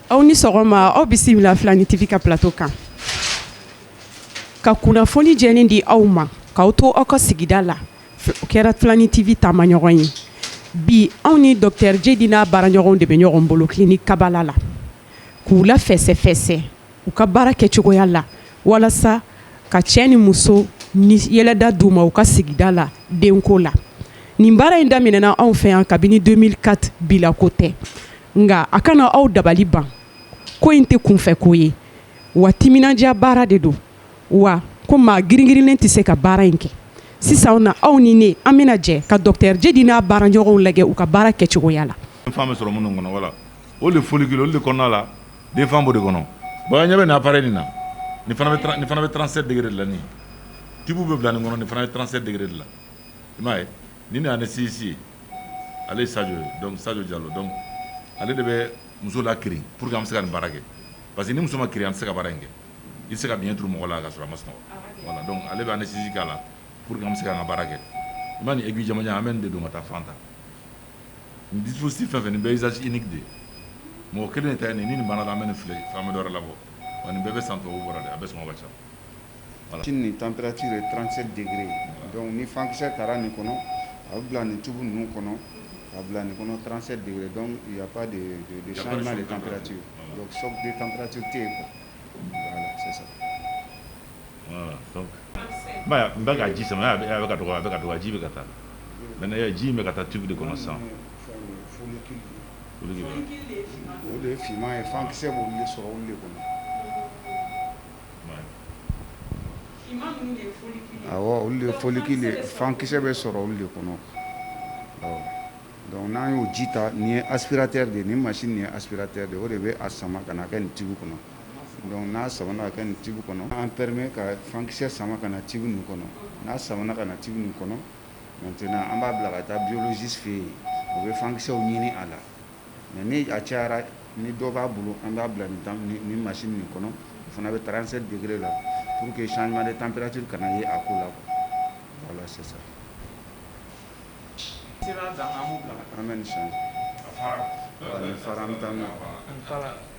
Aw ni sɔgɔma aw bisimila Filani TV ka plateau kan ka kunnafoni jɛlen di aw ma k'aw to aw ka sigida la o kɛra Filani TV taamaɲɔgɔn ye bi anw ni dɔkɔtɔrɔ Djedi n'a baaraɲɔgɔnw de bɛ ɲɔgɔn bolo clinique Kabala la k'u lafɛsɛfɛsɛ u ka baara kɛcogoya la walasa ka cɛ ni muso ni yɛlɛda d'u ma u ka sigida la denko la nin baara in daminɛna anw fɛ yan kabini 2004 bi la ko tɛ nka a kana aw dabali ban ko in tɛ kunfɛ ko ye wa timinandiya baara de don wa ko maa giringirinlen tɛ se ka baara in kɛ sisan na aw ni ne an bɛna jɛ ka dɔkɔtɔrɔ Djedi n'a baaraɲɔgɔnw lajɛ u ka baara kɛcogoya la den fan b'o de kɔnɔ bon ɲɛ bɛ nin appareil nin na nin fana bɛ 37 degré de la nin tube bɛ bila nin kɔnɔ nin fana bɛ 37 degré de la i m'a ye nin de anesthésiste ye ale Sadio ye Sadio Diallo donc ale de bɛ muso lakirin pour que an bɛ se ka nin baara kɛ parce que ni muso ma kirin an tɛ se ka baara in kɛ i tɛ se ka biɲɛ turu mɔgɔ la ka sɔrɔ a ma sunɔgɔ voilà donc ale bɛ anesthésie k'a la pour que an bɛ se ka an ka baara kɛ i ma nin aiguille jamajan an bɛ nin de don ka taa fan ta dususi fɛn fɛ nin bɛɛ izsi de ye mɔgɔ kelen ta nin ni ni baara la ni fila faama dɔ labɔ ani bɛɛ bɛ san tɔw bɔra a bɛ sɔn ka ca ni tanti ye transi de ye ni fankisɛsɛ taara nin kɔnɔ a bɛ bila nin tugu ninnu kɔnɔ a bila nin kɔnɔ transi de ye de ye tanti ye sabu tanranti tɛ yen sisan Ka ji sama a bɛ ka dɔgɔ a bɛ ka dɔgɔ ji bɛ ka taa maintenant ji bɛ ka taa tube de kɔnɔ sisan follicule de fankisɛ bɛ sɔrɔ olu de kɔnɔ donc n'an y'o ji ta nin ye aspirateur de ye nin machine nin ye aspirateur de ye o de bɛ a sama ka na kɛ nin tube kɔnɔ Donc n'a samana ka kɛ nin tube kɔnɔ a b'an permet ka fankisɛ sama ka na tube nin kɔnɔ n'a samana ka na tube nin kɔnɔ maintenant an b'a bila ka taa biologiste fɛ yen o bɛ fankisɛw ɲini a la mais ni a cayara ni dɔ b'a bolo an b'a bila nin machine nin kɔnɔ o fana bɛ 37 degré la pour que changement de température kana ye a ko la voilà c'est ça an bɛ nin changer nin fara an bɛ taa n'a ye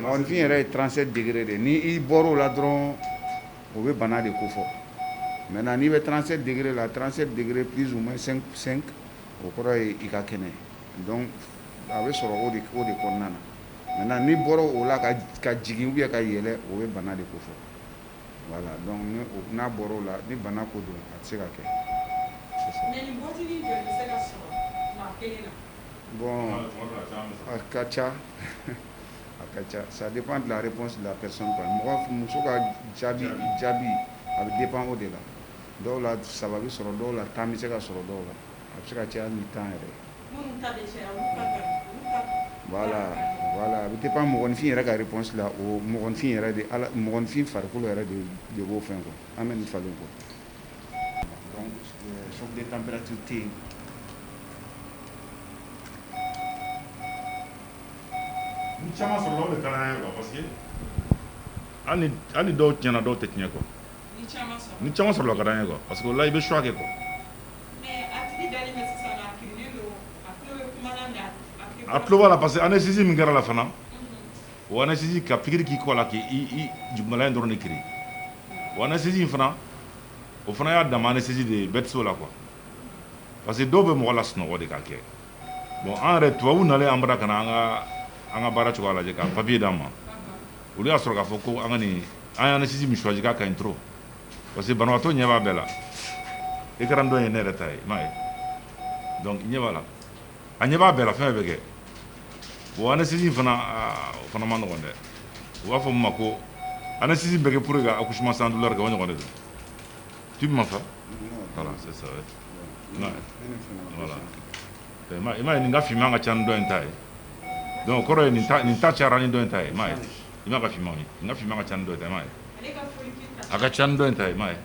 mɔgɔninfin yɛrɛ ye 37 degré de ye ni i bɔr'o la dɔrɔn o bɛ bana de kofɔ maintenant n'i bɛ 37 degré la 37 degré plus ou moins 5 5 o kɔrɔ ye i ka kɛnɛ donc a bɛ sɔrɔ o de o de kɔnɔna na maintenant n'i bɔra o la ka ka jigin ou bien ka yɛlɛ o bɛ bana de kofɔ voilà donc ni o n'a bɔr'o la ni bana ko don a tɛ se ka kɛ. Mais nin bɔtinin joli bɛ se ka sɔrɔ maa kelen na? Bon a ka ca a ka ca ça dépend de la réponse de la personne mɔgɔ muso ka jaabi jaabi a bɛ dépend o de la dɔw la saba bɛ sɔrɔ dɔw la tan bɛ se ka sɔrɔ dɔw la a bɛ se ka caya ni tan yɛrɛ a bɛ dépend mɔgɔninfin yɛrɛ ka réponse la o mɔgɔnfin yɛrɛ de mɔgɔnfin farikolo yɛrɛ de de b'o fɛn quoi an bɛ nin falen quoi hali dɔw tiɲɛna dɔw tɛ tiɲɛ quoi ni caman sɔrɔla a ka d'an ye quoi parce que o la i bɛ choix kɛ quoi a tulo b'a la parce que anesthésie min kɛra la fana O anesthésie ka pikiri k'i kɔ la k'i jugumala in dɔrɔn de kirin o anesthésie in fana o fana y'a dama anesthésie de ye bɛɛ tɛ se o la quoi parce que dɔw bɛ mɔgɔ lasunɔgɔ de k'a kɛ bon an yɛrɛ tubabu nalen an bara ka na an ka baara cogoya lajɛ ka papiye d'an ma olu y'a sɔrɔ k'a fɔ ko an an ye anesthésie min choisi k'a ka ɲi trop parce que banabaatɔ ɲɛ b'a bɛɛ la écran dɔ ye ne yɛrɛ ta ye i m'a ye donc ɲɛ b'a la A ɲɛ b'a bɛɛ la fɛn bɛɛ bɛ kɛ bon anesthésie fana o fana ma nɔgɔ dɛ u b'a fɔ min ma ko anesthésie bɛ kɛ pour ka accouchement sans douleur kɛ o ɲɔgɔn de don tu ma sa i m'a ye nin ka finman ka ca ni dɔ in ta ye donc o kɔrɔ ye nin ta cayara ni dɔ in ta ye m'a ye i ka finman n ka finman ka ca ni dɔ ye a ka ca ni dɔ in ta ye m'a ye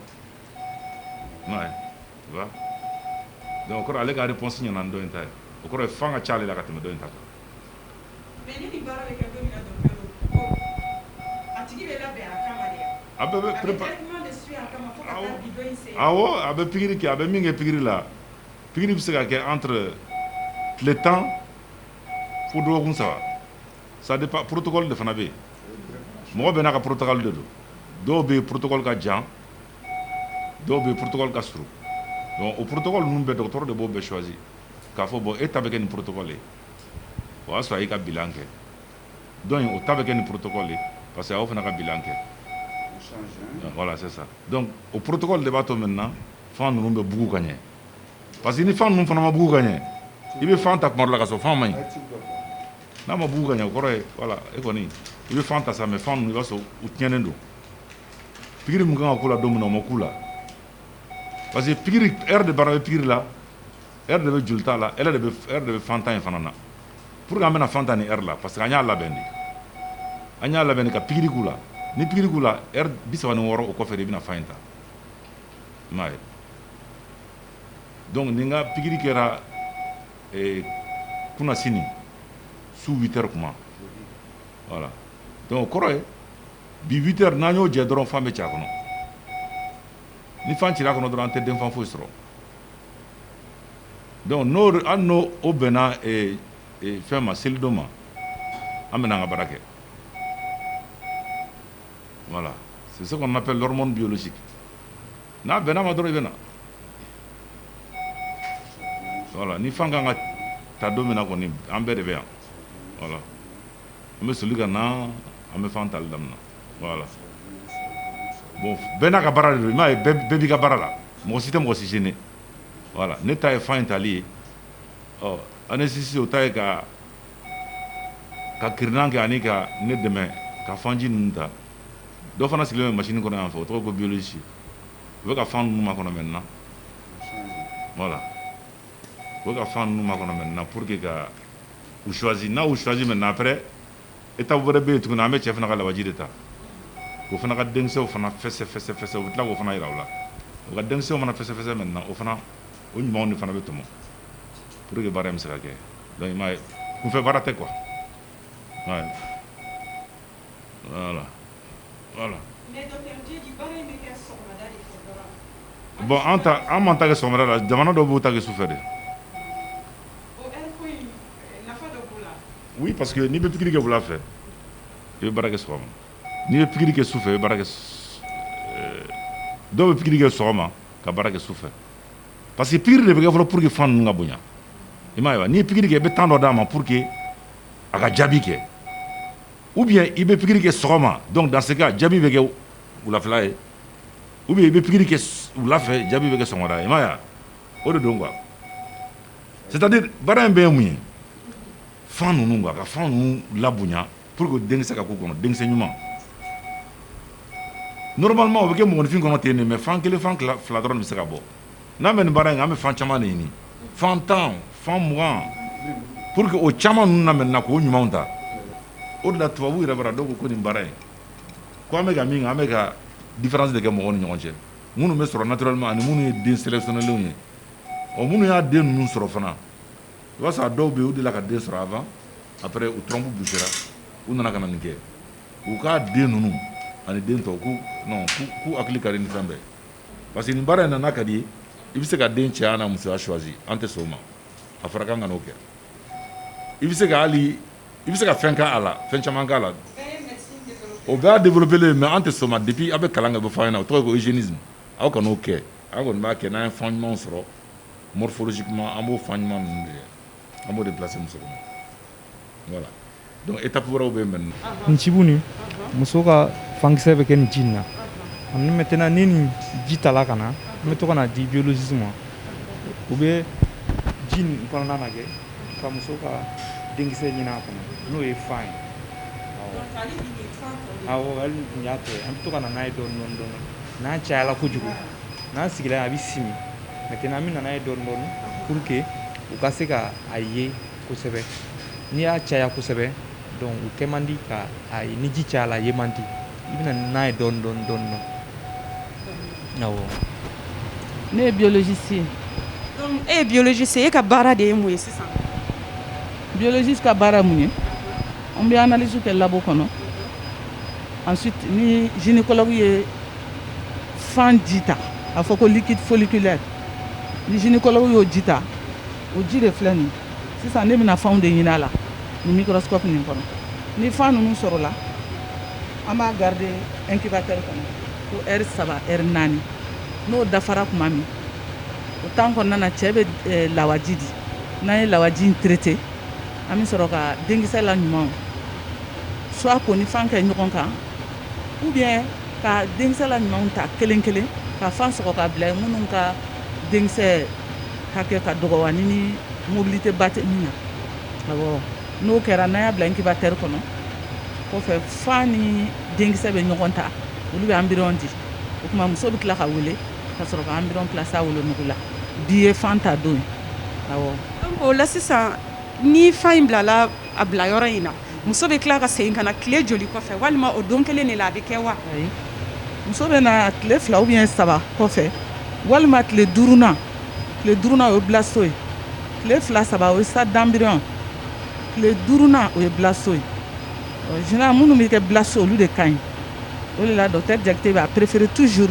Donc o kɔrɔ ale ka réponse ɲɛna ni dɔ in ta o kɔrɔ ye fan ka ca ale la ka tɛmɛ dɔ in ta kan a bɛɛ bɛ a bɛ pikiri kɛ a bɛ min kɛ pikiri la pikiri bɛ se ka kɛ entre tile tan fo dɔgɔkun saba ça dépend protocole de fana bɛ yen mɔgɔ bɛɛ n'a ka protocole de don dɔw bɛ protocole ka jan dɔw bɛ yen protocole ka surun donc o protocole ninnu bɛɛ dɔgɔtɔrɔ de b'o bɛɛ choisir k'a fɔ bon e ta bɛ kɛ nin protocole ye o y'a sɔrɔ a y'i ka bilan kɛ donc o ta bɛ kɛ nin protocole ye parce que a y'o fana ka bilan kɛ voilà c'est ça donc o protocole de b'a to maintenant fan ninnu bɛ bugu ka ɲɛ parce que ni fan ninnu fana ma bugu ka ɲɛ i bɛ fan ta tuma dɔ la ka sɔrɔ fan ma ɲi n'a ma bugu ka ɲɛ o kɔrɔ ye voilà e kɔni i bɛ fan ta sa mais fan ninnu i b'a sɔrɔ u tiɲɛnen don Pikiri min kan ka k'u la don min na o ma k'u la parce que pikiri heure de baara bɛ pikiri la heure de bɛ jolita la heure de bɛ fanta in fana na pourquoi an bɛna fan ta ni heure la parce que an y'a labɛn de an y'a labɛn de ka pikiri k'u la ni pikiri k'u la heure bi saba ni wɔɔrɔ o kɔfɛ de i bɛna fan in ta i m'a ye donc ni n ka pikiri kɛra eh, kunasini su 8 heures kuma voilà donc o kɔrɔ ye bi 8 heures n'an y'o jɛ dɔrɔn fan bɛ ci a kɔnɔ ni fan cira a kɔnɔ dɔrɔn an tɛ denfan foyi sɔrɔ donc hali n'o bɛnna fɛn ma selidon ma an bɛna an ka baara kɛ voilà c'est ce qu'on appelle l'hormone biologique n'a bɛnn'a ma dɔrɔn i bɛ na voilà ni fan kan ka ta don min na kɔni an bɛɛ de bɛ yan voilà An bɛ soli ka na an bɛ fan tali daminɛ voilà bon bɛɛ n'a ka baara de don i m'a ye bɛɛ b'i ka baara la mɔgɔ si tɛ mɔgɔ si gêner voilà ne ta ye fan in tali ye ɔ anesthésie o ta ye ka ka kirinan kɛ ani ka ne dɛmɛ ka fanji ninnu ta dɔ fana sigilen bɛ machine kɔnɔ yan fɛ o tɔgɔ ko biologiste o bɛ ka fan ninnu makɔnɔ maintenant voilà O ka fan ninnu makɔnɔ maintenant pour que ka u choisir n'a y'u choisir maintenant après étape wɛrɛ bɛ yen tuguni an bɛ cɛ fana ka lawaji de ta o fana ka denkisɛw fana fɛsɛfɛsɛ u bɛ tila k'o fana yira u la o ka denkisɛw fana fɛsɛfɛsɛ maintenant o fana o ɲumanw de fana bɛ tɔmɔ pour que baara in bɛ se ka kɛ donc i m'a ye kunfɛ baara tɛ quoi bon an b'an ta kɛ sɔgɔmada la jamana dɔw b'u ta kɛ sufɛ de oui parce que n'i bɛ pikiri kɛ wula fɛ i bɛ baara kɛ sɔgɔma n'i bɛ pikiri kɛ sufɛ i bɛ baara kɛ dɔw bɛ pikiri kɛ sɔgɔma ka baara kɛ sufɛ parce que pikiri de bɛ kɛ fɔlɔ pour que fan ninnu ka bonya i m'a ye wa n'i ye pikiri kɛ i bɛ temps dɔ d'a ma pour que a ka jaabi kɛ ou bien i bɛ pikiri kɛ sɔgɔma donc dans ce cas jaabi bɛ kɛ wulafɛla ye ou bien i bɛ pikiri kɛ wulafɛ jaabi bɛ kɛ sɔgɔmada ye i m'a ye wa o de don quoi c'est à dire baara in bɛɛ ye mun ye fan ninnu quoi ka fan ninnu labonya pour que denkisɛ ka k'u kɔnɔ denkisɛ ɲuman normalement o bɛ kɛ mɔgɔninfin kɔnɔ ten de mais fan kelen fan fila dɔrɔn bɛ se ka bɔ n'an bɛ nin baara in kɛ an bɛ fan caman de ɲini fan tan fan mugan pour que o caman ninnu na maintenant k'o ɲumanw ta o de la tubabu yɛrɛ bara dɔw ko ko nin baara in ko an bɛ ka min kɛ an bɛ ka différence de kɛ mɔgɔw ni ɲɔgɔn cɛ minnu bɛ sɔrɔ naturellement ani minnu ye den sélectionnés lenw ye ɔ minnu y'a den ninnu sɔrɔ fana i b'a sɔrɔ a dɔw bɛ yen u delila ka den sɔrɔ avant après u trompe bouchera u nana ka na nin kɛ u k'a den ninnu ani den tɔw k'u non k'u hakili ka di ni fɛn bɛɛ ye parce que nin baara in na n'a ka d'i ye i bɛ se ka den cɛya n'a musoya choisir an tɛ sɔn o ma a fɔra k'an kan'o kɛ i bɛ se ka hali i bɛ se ka fɛn k'a la fɛn caman k'a la o bɛɛ y'a développer len ye mais an tɛ sɔn o ma depuis an bɛ kalan kɛ o bɛ fɔ an ɲɛna o tɔgɔ ye ko eugénisme aw kan'o kɛ an kɔni b'a kɛ n'an ye fan ɲumanw sɔrɔ morphologiquement an b'o fan ɲuman ninnu de an b'o de placer muso kɔnɔ étape wɛrɛ bɛ yen nin tube nin muso ka fankisɛ bɛ kɛ nin ji na ani bɛ tɛna ni ni ji ta ka na n bɛ to kana na di jisi ma u bɛ ji kɔnɔna kɛ ka muso ka denkisɛ ɲinin a kɔnɔ n'o ye fan ye y'a to an bɛ to ka n'a ye dɔɔni n'a cayala kojugu n'a sigira a bɛ simi maintenant an bɛna n'a ye dɔɔni dɔɔni pour que u ka se k ka a ye kosɛbɛ n'i y'a caya kosɛbɛ donc u kɛ man di ka a ye ni ji cayala a ye man di i bɛna n'a ye dɔɔni dɔɔni dɔɔni dɔɔni awɔ ne ye biologiste ye donc e ye biologiste ye e ka baara de ye mun ye sisan biologiste ka baara mun ye an bɛ analyse kɛ labo kɔnɔ ensuite ni gynécologue ye fan ji ta a fɔ ko liquide folliculaire ni gynécologue y'o ji ta o ji de filɛ nin sisan ne bɛna fanw de ɲinin a la nin microscope nin kɔnɔ ni fan ninnu sɔrɔla an b'a garder incubateur kɔnɔ ko heure saba heure naani n'o dafara tuma min o temps kɔnɔna na cɛ bɛ eh, lawaji di n'an ye lawaji in traiter an bɛ sɔrɔ ka denkisɛ la ɲumanw soit k'o ni fan kɛ ɲɔgɔn kan ou bien ka denkisɛ la ɲumanw ta kelen kelen ka fan sɔgɔ k'a bila minnu ka denkisɛ hakɛ ka dɔgɔ ani ni mobilité ba tɛ min na awɔ n'o kɛra n'an y'a bila incubateur kɔnɔ kɔfɛ fan ni denkisɛ bɛ ɲɔgɔn ta olu bɛ embryon di o tuma muso bɛ tila ka wele ka sɔrɔ ka embryon placer a wolonugu la bi ye fan ta don ye awɔ o la sisan ni fan in bilala a bila yɔrɔ in na muso bɛ tila ka segin ka na tile joli kɔfɛ walima o don kelen de la a bɛ kɛ wa muso bɛ na tile fila ou bien saba kɔfɛ walima tile duurunan tile duurunan o ye blasto ye tile fila saba o ye stade d'embryon tile duurunan o ye blasto ye général minnu bɛ kɛ blasto olu de ka ɲi o de la docteur Diakité bɛ a préféré toujours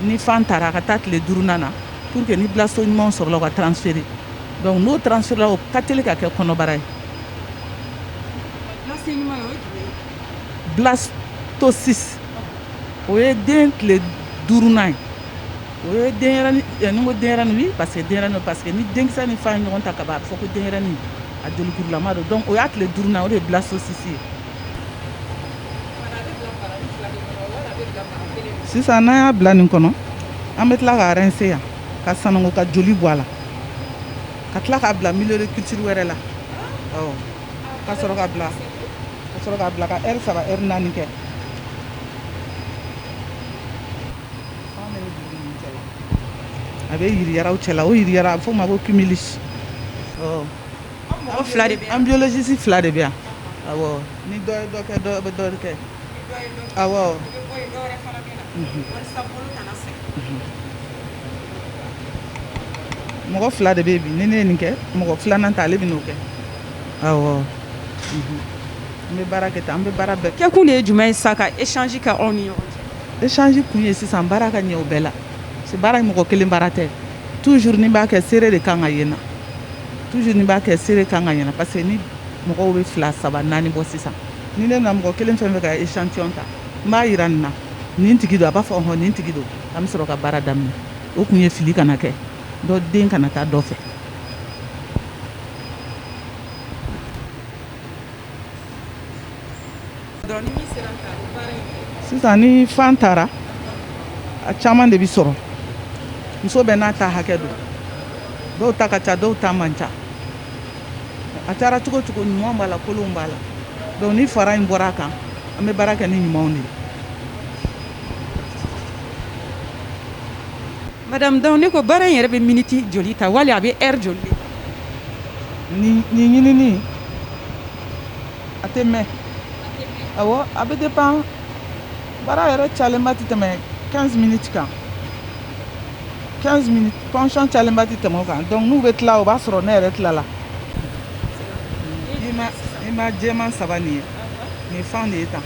ni fan taara a ka taa tile duurunan na pour que ni blasto ɲuman sɔrɔla ka transférer Donc n'o transfère la o ka teli ka kɛ kɔnɔbara ye blasto ɲuman o ye jumɛn ye blastocyste o ye den tile 5 nan ye o ye denyɛrɛni ɛ ni n ko denyɛrɛni oui parce que denyɛrɛni don parce que ni denkisɛ ni fan ye ɲɔgɔn ta kaban a bɛ fɔ ko denyɛrɛni a jolikurulama don donc o y'a tile 5 nan o de ye blastocyste ye kumana a bɛ bila baranin fila de kɔnɔ wala a bɛ bila bara kelen de kɔnɔ sisan n'an y'a bila nin kɔnɔ an bɛ tila ka rincer yan ka sanango ka joli bɔ a la ka tila k'a bila milieu de culture wɛrɛ la awɔ ka sɔrɔ ka bila ka sɔrɔ ka bila ka heure saba heure naani kɛ a bɛ yiriyaraw cɛla o yiriyara a bɛ f'o ma ko cumulus awɔ an biologiste fila de bɛ yan ni dɔ ye dɔ kɛ dɔ bɛ dɔ kɛ mɔgɔ fila de bɛ bi ni ne nin kɛ mɔgɔ filanan ta ale bɛ n'o kɛ an bɛ baara kɛ an bɛ baara bɛɛ kɛ kun de ye jumɛn ye sa ka échange kɛ aw ni ɲɔgɔn cɛ échange kun ye sisan baara ka ɲɛ o bɛɛ la baara ye mɔgɔ kelen baara tɛ toujours n'i b'a kɛ seere de kan ka yen na toujours n'i b'a kɛ seere kan ka ɲɛna parce que ni mɔgɔw bɛ fila saba naani bɔ sisan ni ne na mɔgɔ kelen fɛn fɛ ka échantillon ta n b'a yira nin na nin tigi don a b'a fɔ hɔn nin tigi don an bɛ sɔrɔ ka baara daminɛ o kun ye fili kana kɛ dɔ den kana taa dɔ fɛ Sisan ni fan taara a caman de bɛ sɔrɔ muso bɛɛ n'a ta hakɛ don dɔw ta ka ca dɔw ta man ca a taara cogo cogo ɲumanw b'a la kolonw b'a la donc ni fara in bɔra a kan an bɛ baara kɛ ni ɲumanw de ye Madame donc ne ko baara in yɛrɛ bɛ miniti joli ta wali a bɛ heure joli nin ɲinini a tɛ mɛn awɔ a bɛ dépend baara yɛrɛ cayalenba tɛ tɛmɛ quinze minutes kan quinze minutes ponction cayalenba tɛ tɛmɛ o kan donc n'u bɛ tila o b'a sɔrɔ ne yɛrɛ tilala i ma jɛman saba nin ye nin fan de ye tan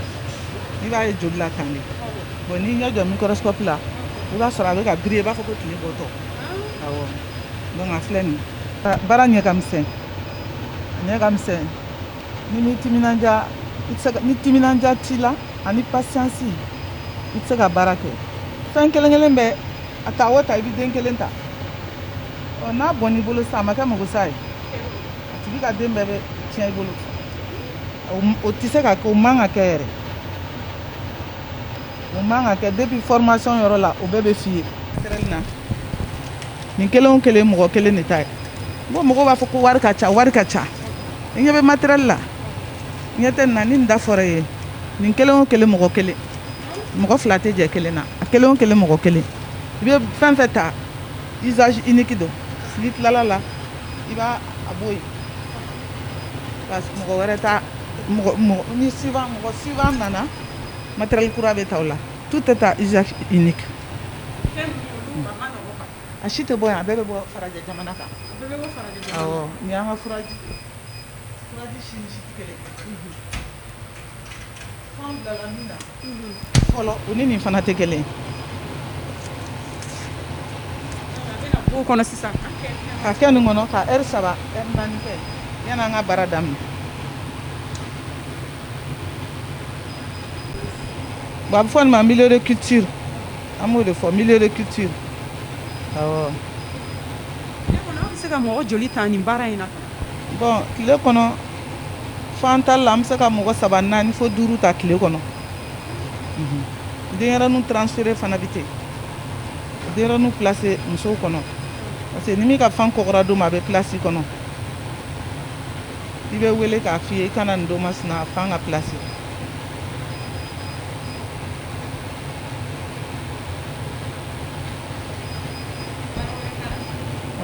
i b'a ye joli la tan de Bon n'i ɲɛ jɔ microscope la i b'a sɔrɔ a bɛ ka briller i b'a fɔ ko tile bɔtɔ, awɔ, donc a filɛ nin baara ɲɛ ka misɛn, a ɲɛ ka misɛn n'i m'i timinandiya i tɛ se ka ni timinandiya t'i la ani patience i tɛ se ka baara kɛ fan kelen kelen bɛɛ a ta o ta i bɛ den kelen ta ɔ n'a bɔnn'i bolo sisan a ma kɛ magosa ye a tigi ka den bɛɛ bɛ tiɲɛ i bolo o tɛ se ka kɛ o man ka kɛ yɛrɛ O man ka kɛ depuis formation yɔrɔ la o bɛɛ bɛ f'i ye matériel na nin kelen o kelen mɔgɔ kelen de ta ye n ko mɔgɔw b'a fɔ ko wari ka ca wari ka ca i ɲɛ bɛ matériel la i ɲɛ tɛ nin na ni nin da fɔra i ye nin kelen o kelen mɔgɔ kelen mɔgɔ fila tɛ jɛ kelen na a kelen o kelen mɔgɔ kelen i bɛ fɛn fɛn ta usage unique don n'i tilal'a la i b'a a bɔ yen parce que mɔgɔ wɛrɛ t'a mɔgɔ mɔgɔ ni suivant mɔgɔ suivant nana Matɛrɛli kura bɛ taa la tu tɛ taa zsa i ni kan a si tɛ bɔ yan a bɛɛ bɛ bɔ kan ni an kaji fɔlɔ u ni nin fana tɛ kelen kɔnɔ sisan ka kɛ nin kɔnɔ ka saba yan an ka bara daminɛ Bon a bɛ fɔ nin ma milieu de culture an b'o de fɔ milieu de culture awɔ. Tile kɔnɔ aw bɛ se ka mɔgɔ joli ta nin baara in na? Bon tile kɔnɔ fan tali la an bɛ se ka mɔgɔ saba naani fo duuru ta tile kɔnɔ. Mhm. Denyɛrɛninw transféré fana bɛ ten. Denyɛrɛninw placer musow kɔnɔ parce que ni min ka fan kɔgɔra don min a bɛ placé i kɔnɔ. i bɛ wele k'a f'i ye i ka na nin don masina a fan ka pilasi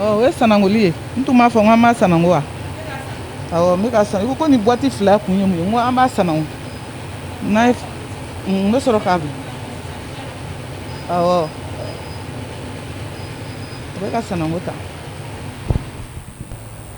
ɔ o ye sanangoli ye n tun b'a fɔ n ko an b'a sanango wa awɔ n bɛ ka san i ko ko nin buwati fila kun ye mun ye n ko an b'a sanango n'a ye n bɛ sɔrɔ k'a bila awɔ o bɛ ka sanango ta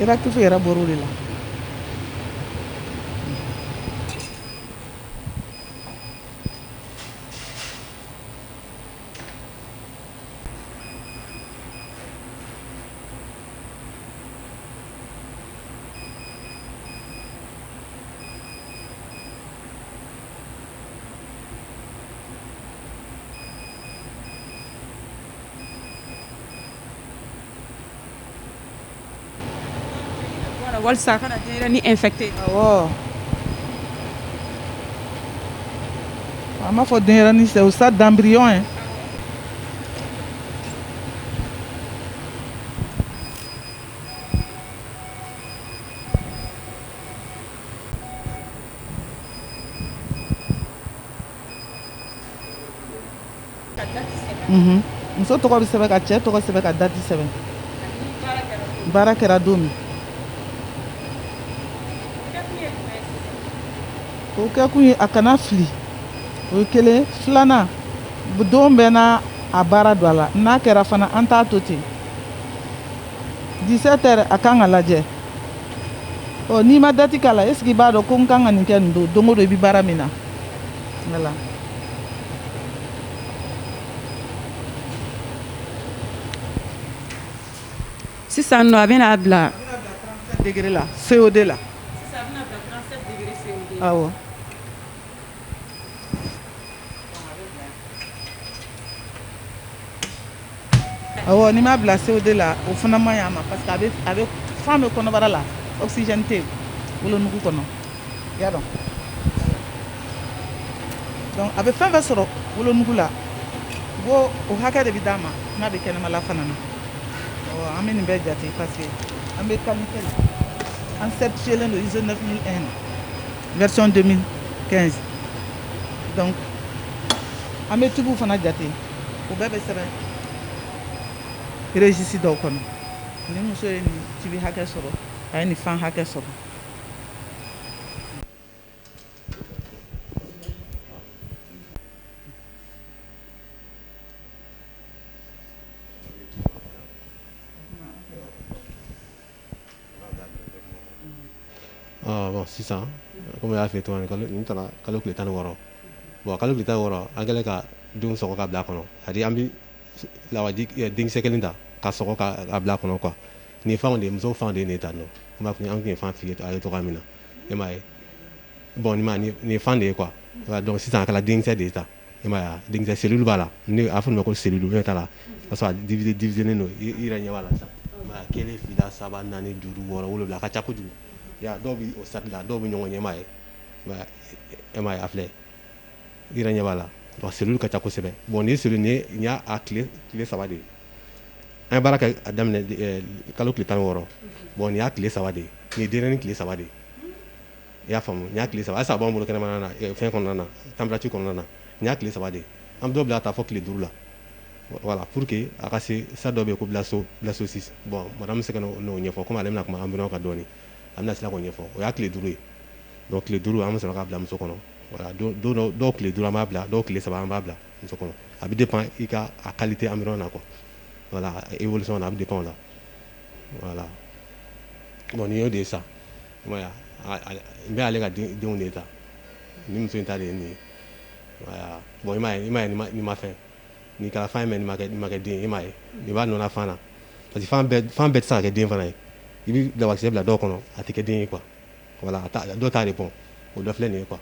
I bɛ tufu yɛrɛ baro de la Walasa ka ni e fɛ ten a b'a fɔ den ni sa sa danbiri ye Muso tɔgɔ bɛ sɛbɛn ka cɛ tɔgɔ sɛbɛn ka dati sɛbɛn baara kɛra don min o kɛ kun ye a kana fili o ye kelen filanan don bɛ n' a baara don a la n'a kɛra fana an t'a to ten 17 heures a kan ka lajɛ ɔ n'i ma dati k'a la est-ce que i b'a dɔn ko n kan ka nin kɛ nin don don o don i bɛ baara min na voilà sisan nɔ a bɛna a bila degré la CO2 la awɔ N'i m'a bila CO2 la o fana man ɲi a ma parce que a bɛ fan bɛ kɔnɔbara la oxygène tɛ wolonugu kɔnɔ i y'a dɔn donc a bɛ fɛn fɛn sɔrɔ wolonugu la o hakɛ de bɛ d'a ma n'a bɛ kɛnɛmala fana na an bɛ nin bɛɛ jate parce que an bɛ qualité la an certifielen don ISO 9001 na version 2015 donc an bɛ tubiw fana jate o bɛɛ bɛ sɛbɛn registre dɔw kɔnɔ ni muso ye nin tibi hakɛ sɔrɔ a ye nin fan hakɛ sɔrɔ sisan kɔmi y'a f'i ye cogo min kalo tile tan ni wɔɔrɔ bon kalo tile tan ni wɔɔrɔ an kɛlen ka don sɔgɔ ka bila kɔnɔ c'est à dire an bɛ lawaji denkisɛ kelen ta ka sɔgɔ ka bila kɔnɔ quoi nin fan de muso fan de de ta dɔn tun an tun fan fili a ye cogo min na e m'a ye bon nin fan de ye quoi sisan a kɛra denkisɛ de ye ta e m'a ye wa denkisɛ cellule b'a la ne a fɔ nin ma ko cellule ou bien t'a la o y'a sɔrɔ a divisé divisé nen don i yɛrɛ ɲɛ b'a la sisan i m'a ye wa kelen fila saba naani duuru wɔɔrɔ wolonwula a ka ca kojugu i y'a ye dɔw bɛ o stade la dɔw bɛ ɲɔgɔn ɲɛ i m'a ye i m'a ye e m'a ye a filɛ i yɛrɛ ɲɛ b'a la donc cellule ka ca kosɛbɛ bon nin cellule nin ye nin y'a a tile tile saba de ye an ye baara kɛ a daminɛ kalo tile tan ni wɔɔrɔ bon nin y'a tile saba de ye nin ye denyɛrɛni tile saba de ye y'a faamu nin y'a tile saba halisa a b'an bolo kɛnɛmana na fɛn kɔnɔna na température kɔnɔna na nin y'a tile saba de ye an bɛ dɔ bila ka taa fɔ tile duuru la voilà pour que a ka se stade dɔ bɛ yen ko blastocyste bon madame bɛ se k'o ɲɛfɔ komi ale bɛna kuma embryon kan dɔɔni a bɛna se k'o ɲɛfɔ o y'a tile duuru ye donc tile duuru an bɛ sɔrɔ k'a bila muso kɔnɔ dɔw tile duuru an b'a bila dɔw tile saba an b'a bila muso kɔnɔ a bɛ dépend i ka a qualité embryon na quoi voilà évolution na a bɛ dépend o la voilà bon nin y'o de ye sa n bɛ ale ka denw de ta ni muso in ta de ye nin ye bon i m'a ye nin ma fɛn nin kɛra fan ye mais nin ma kɛ den ye i m'a ye i b'a nɔ fan na parce que fan bɛɛ tɛ se ka kɛ den fana ye i bɛ lawakisɛ bila dɔw kɔnɔ a tɛ kɛ den ye quoi voilà dɔw t'a répond o dɔ filɛ nin ye quoi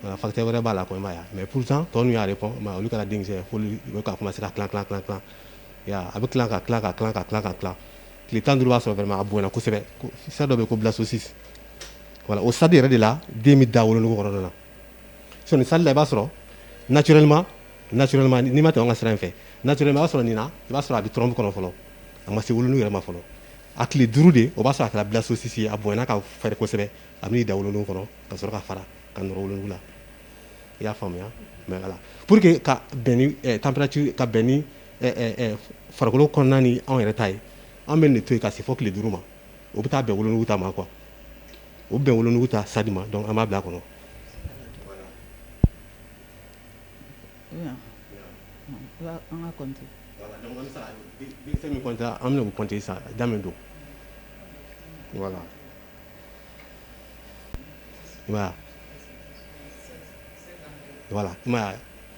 voilà facteur wɛrɛ b'a la quoi i m'a ye wa mais pourtant tɔ ninnu y'a répond i m'a ye olu kɛra denkisɛ ye f'olu bɛ ka commencer ka tilan tilan tilan i y'a ye a bɛ tilan ka tilan ka tilan ka tilan ka tilan tile tan duuru b'a sɔrɔ vraiment a bonyana kosɛbɛ stade dɔ bɛ yen ko blastocyste voilà o stade yɛrɛ de la den bɛ da wolonugu kɔnɔna na sinon nin stade la i b'a sɔrɔ naturellement naturellement n'i ma tɛmɛ an ka sira in fɛ naturellement i b'a sɔrɔ nin na i b'a sɔrɔ a bɛ trompe kɔnɔ fɔlɔ a ma se wolonugu yɛrɛ ma fɔlɔ a tile duuru de o b'a sɔrɔ a kɛra blastocyste ye a bonyana ka fɛrɛ kosɛbɛ a bɛ n'i da wolonugu kɔnɔ ka sɔrɔ ka fara ka nɔrɔ wolonugu la i y'a faamuya mais voilà pour que ka bɛn ni eh, température ka bɛn ni farikolo kɔnɔna ni anw yɛrɛ ta ye an bɛ nin de to yen ka se fɔ tile duuru ma o bɛ taa bɛn wolonugu ta ma quoi o bɛn wolonugu ta stade ma donc an b'a bila a kɔnɔ an ka compter sa da don voilà voilà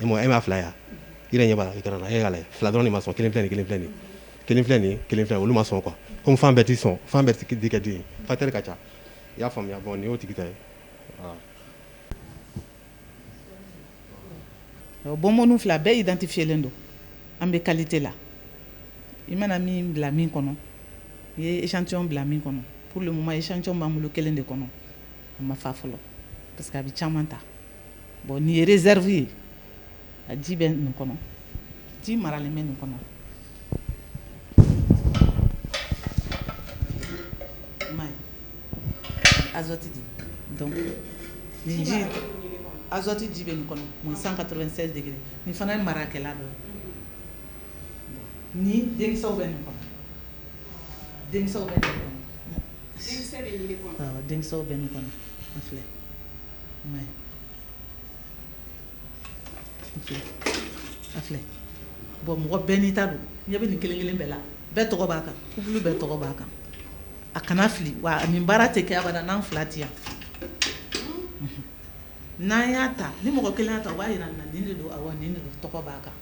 e m'a fila yan i yɛrɛ ɲɛ b'a la écran na e y'a lajɛ fila dɔrɔn de ma sɔn kelen kelen kelen kelen filɛ nin kelen filɛ olu ma sɔn quoi comme fan bɛɛ tɛ sɔn fan bɛɛ tɛ kɛ den ye facteur ka ca i y'a faamuya bon nin y'o tigi ta ye bonbonne fila bɛɛ identifiélen don an bɛ qualité la i mana min bila min kɔnɔ i ye échantillon bila min kɔnɔ pour le moment échantillon b'an bolo kelen de kɔnɔ a ma fa fɔlɔ parce que a bɛ caman ta bon nin ye réserve ye a ji bɛ nin kɔnɔ ji maralen bɛ nin kɔnɔ i m'a ye azote ji donc nin ji in azote ji bɛ nin kɔnɔ moins 196 degrés nin fana ye marakɛlan dɔ ye ni denkisɛw bɛ nin kɔnɔ denkisɛw bɛ nin kɔnɔ denkisɛ bɛ nin de kɔnɔ awɔ denkisɛw bɛ nin kɔnɔ a filɛ bon mɔgɔ bɛɛ n'i ta don ɲɛ bɛ nin kelen kelen bɛɛ la bɛɛ tɔgɔ b'a kan couple bɛɛ tɔgɔ b'a kan a kana fili wa a nin baara tɛ kɛ abada n'an fila tɛ yan n'an y'a ta ni mɔgɔ kelen y'a ta o b'a jira n na nin de don awɔ nin de don tɔgɔ b'a kan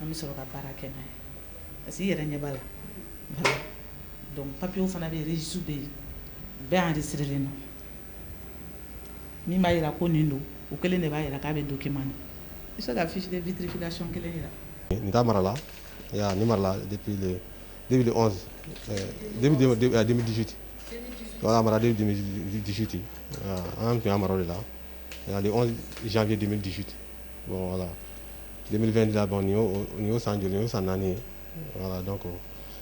an bɛ sɔrɔ ka baara kɛ n'a ye parce que i yɛrɛ ɲɛ b'a la don papiye fana bɛ su bɛ yen bɛɛ y'an de sirilen don min b'a jira ko nin don o kɛlen de b'a jira k'a bɛ donki man i se ka fi fitirifin kelen jira n da marala ni marala debidisiti mara disiti an tun mara de ladi disiti wala den nin y'o san joli ye o san naani ye wala dɔn kɔ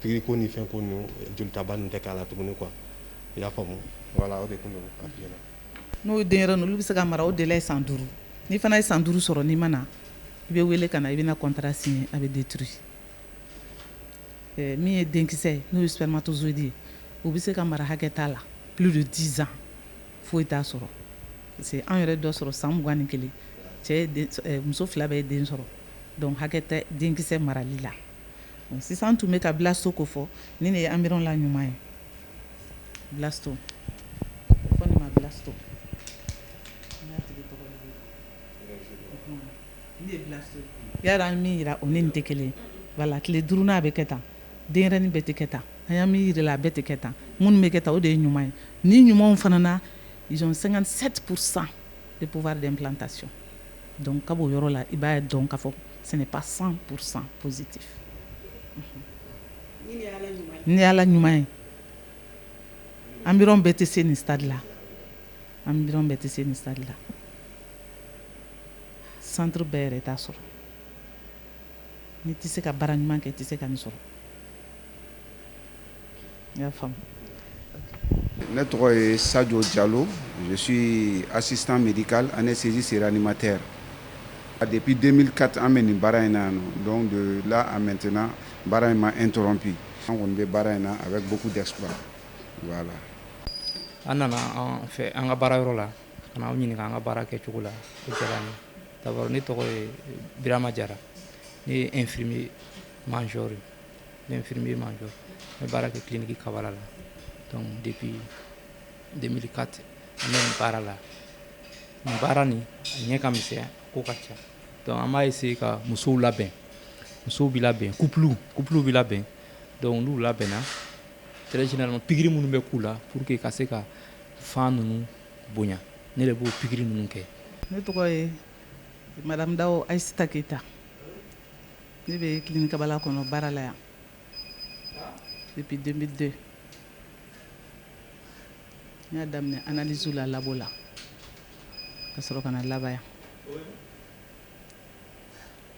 Pikiri ko ni fɛn ko ninnu jolitaba ninnu tɛ k'a la tuguni quoi i y'a faamu voilà o de tun don a f'i ɲɛna. N'o ye denyɛrɛnin ye olu bɛ se ka mara o délai ye san duuru n'i fana ye san duuru sɔrɔ n'i ma na i bɛ wele ka na i bɛna contrat signer a bɛ détruit ɛɛ min ye denkisɛ ye n'o ye spermatozoïde ye o bɛ se ka mara hakɛ t'a la plus de 10 ans foyi t'a sɔrɔ parce que anw yɛrɛ dɔ sɔrɔ san mugan ni kelen cɛ ye den ɛɛ muso fila bɛɛ ye den sɔrɔ donc hakɛ tɛ denkisɛ marali la Sisan n tun bɛ ka blasto ko fɔ nin de ye embryon la ɲuman ye blasto an ye min jira o ni nin tɛ kelen voilà tile duurunan a bɛ kɛ tan denyɛrɛnin bɛɛ tɛ kɛ tan an ye min jira i la a bɛɛ tɛ kɛ tan minnu bɛ kɛ tan o de ye ɲuman ye nin ɲumanw fana na ils ont 57% de pouvoir d'implantation Dɔnku ka b'o yɔrɔ la i b'a ye dɔn ka fɔ san san psiti ni ala ɲuman ye an bɛ tɛ se nin sari la an bɛ tɛ se nin sari la san bɛɛ yɛrɛ t' sɔrɔ n tɛ se ka bara ɲuman kɛ tɛ se ka nin sɔrɔ Ne tɔgɔ ye sajo jalo misi a sisan miri ani sinsi sera ni ma tɛ a dep den ka an bɛ nin baara in na yan don don la a mɛtɛnɛna baara in ma n dɔrɔn bi an kɔni bɛ baara in na a bɛ bugu da la an nana fɛ an ka baara yɔrɔ la an bɛ ɲininka an ka baara kɛ cogo la ne tɔgɔ ye birama jara ne ye efiri mazori Ne infirmier major ne bɛ baara kɛ clinique kabala la donc depuis 2004 n bɛ nin baara la baara nin ɲɛ ka misɛn a ko ka ca donc an b'a essayer ka musow labɛn musow bɛ labɛn ku couplew bɛ labɛn donc n'u labɛnna très généralement pikiri minnu bɛ k'u la pour que ka se ka fan ninnu bonya ne de b'o pikiri ninnu kɛ ne tɔgɔ ye madame dawo ayiseta keyita Ne bɛ kini kababala kɔnɔ baara la yan ipi den bɛ den n y'a daminɛ anzo la labɔ la ka sɔrɔ kana na laban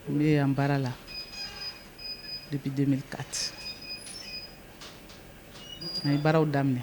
n yan baara la ipi den kati a ye baaraw daminɛ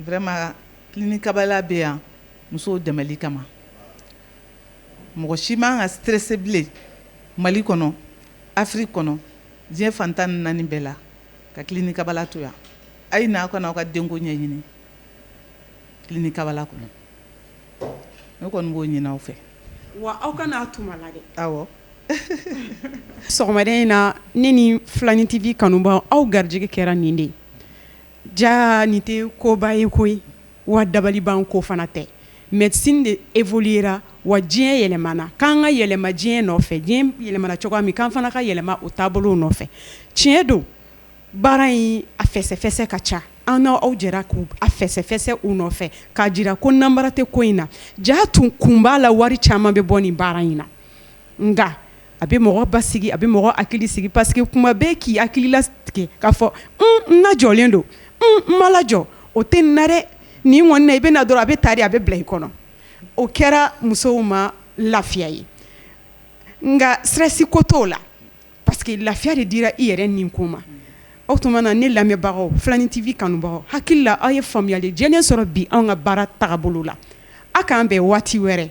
vraiment clinique kabala bɛ yan musow dɛmɛli kama mɔgɔ si man kan ka stresser bilen Mali kɔnɔ Afrique kɔnɔ diɲɛ fan 14 bɛɛ la ka clinique kabala to yan a ye na aw ka na aw ka denko ɲɛɲini clinique kabala kɔnɔ ne kɔni b'o ɲini aw fɛ wa aw ka n'a tuma la dɛ awɔ sɔgɔmada in na ne ni filani TV kanubaaw aw garijɛgɛ kɛra nin de ye. Jaa nin tɛ koba ye koyi wa dabali ban ko fana tɛ médecine de évoluera wa diɲɛ yɛlɛmana k'an ka yɛlɛma diɲɛ nɔfɛ diɲɛ yɛlɛmana cogoya min k'an fana ka yɛlɛma o taabolow nɔfɛ tiɲɛ don baara in a fɛsɛfɛsɛ ka ca an n' aw jɛra k' a fɛsɛfɛsɛ u nɔfɛ k'a jira ko nanbara tɛ ko in na jaa tun kun b'a la wari caman bɛ bɔ nin baara in na nka a bɛ mɔgɔ basigi a bɛ mɔgɔ hakili sigi parce que kuma bɛɛ k'i hakili latigɛ k'a fɔ n lajɔlen don n ma lajɔ o tɛ nin na dɛ nin kɔni na i bɛna na dɔrɔn a bɛ ta de a bɛ bila i kɔnɔ o kɛra musow ma lafiya ye nka stress ko t'o la Parce que lafiya de dira i yɛrɛ nin ko ma o tuma na ne lamɛnbagaw filani TV kanubagaw hakili la aw ye faamuyali jɛlen sɔrɔ bi an ka baara tagabolo la aw k'an bɛn waati wɛrɛ